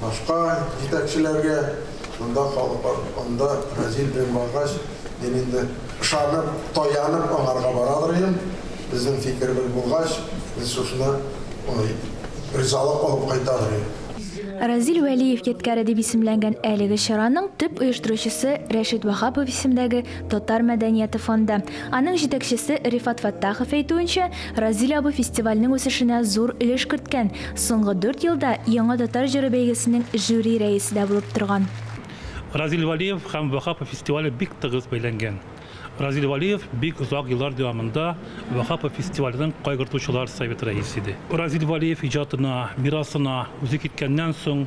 Башка җитәкчеләргә монда халык бар, анда Разил белән баргач, мин инде ышанып, таянып аңарга барадыр идем. Безнең фикеребез булгач, без шушына ризалык алып кайтадыр идек. Разил Вәлиев ядкяре дип исемләнгән әлеге чараның төп оештыручысы Рәшит Ваһапов исемдәге Татар мәдәнияте фонды. Аның җитәкчесе Рифат Фәттахов әйтүенчә, Разил абый фестивальнең үсешенә зур өлеш керткән, Соңгы дүрт елда Яңа татар җыры бәйгесенең жюри рәисе дә булып торган. Разил Вәлиев һәм Ваһапов фестивале бик тыгыз бәйләнгән. Разил Вәлиев бик озак еллар дәвамында Ваһапов фестиваленең Кайгыртучылар советы рәисе иде. Разил Вәлиев иҗатына, мирасына үзе киткәннән соң,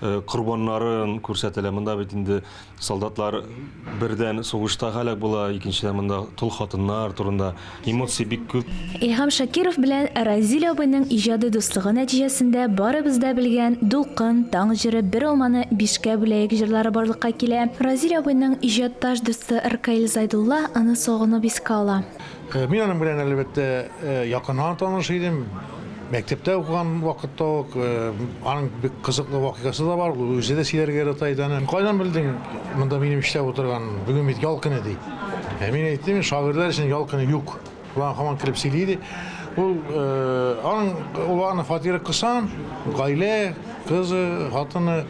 Э, корбаннарын күрсәтелә. Монда бит инде солдатлар бердән сугышта һәлак була, икенчедән монда тол хатыннар турында эмоций бик күп. Илһам Шакиров белән Разил абыйның иҗади дуслыгы нәтиҗәсендә барыбыз да белгән Дулкын, Таң җыры, Бер алманы бишкә бүләек җырлары барлыкка килә. Разил абыйның иҗатташ дусты Ркаил Зайдулла аны сагынып искә ала. Мин аның белән, әлбәттә, якыннан таныш идем. Мәктәптә укыган вакытта ук аның бик кызыклы вакыйгасы да бар, ул үзе дә сөйләргә ярата иде аны. Кайдан белдең монда минем эштә утырган, бүген бит ял көне, ди. Ә мин әйттем, шагыйрьләр өчен ял көне юк. Ул аңа һаман көлеп сөйли иде. Ул аның, ул аның фатиры кысан, гаилә, кызы, хатыны.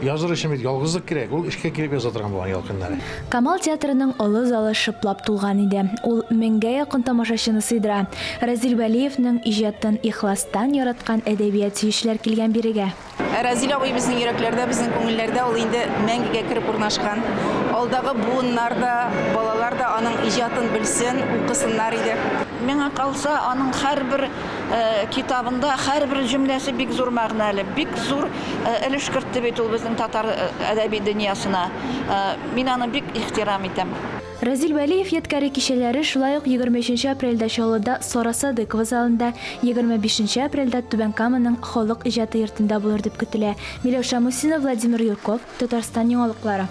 Языр өчен бит ялгызлык кирәк, ул эчкә кереп яза торган булган ял көннәре. Камал театрының олы залы шыплап тулган иде. Ул меңгә якын тамашачыны сыйдыра. Разил Вәлиевнең иҗатын ихластан яраткан әдәбият сөючеләр килгән бирегә. Разил абый безнең йөрәкләрдә, безнең күңелләрдә ул инде мәңгегә кереп урнашкан. Алдагы буыннар да, балалар да аның иҗатын белсен, укысыннар иде. Миңа калса, аның һәрбер китабында һәрбер җөмләсе бик зур мәгънәле, бик зур өлеш кертте бит ул безнең татар әдәби дөньясына. Мин аны бик ихтирам итәм. Разил Вәлиев ядкяри кичәләре шулай ук егерме өченче апрельдә Чаллыда Сара Садыкова залында, егерме бишенче апрельдә Түбән Каманың Халык иҗаты йортында булыр дип көтелә. Миләүшә Мусина, Владимир Юрков, Татарстан яңалыклары.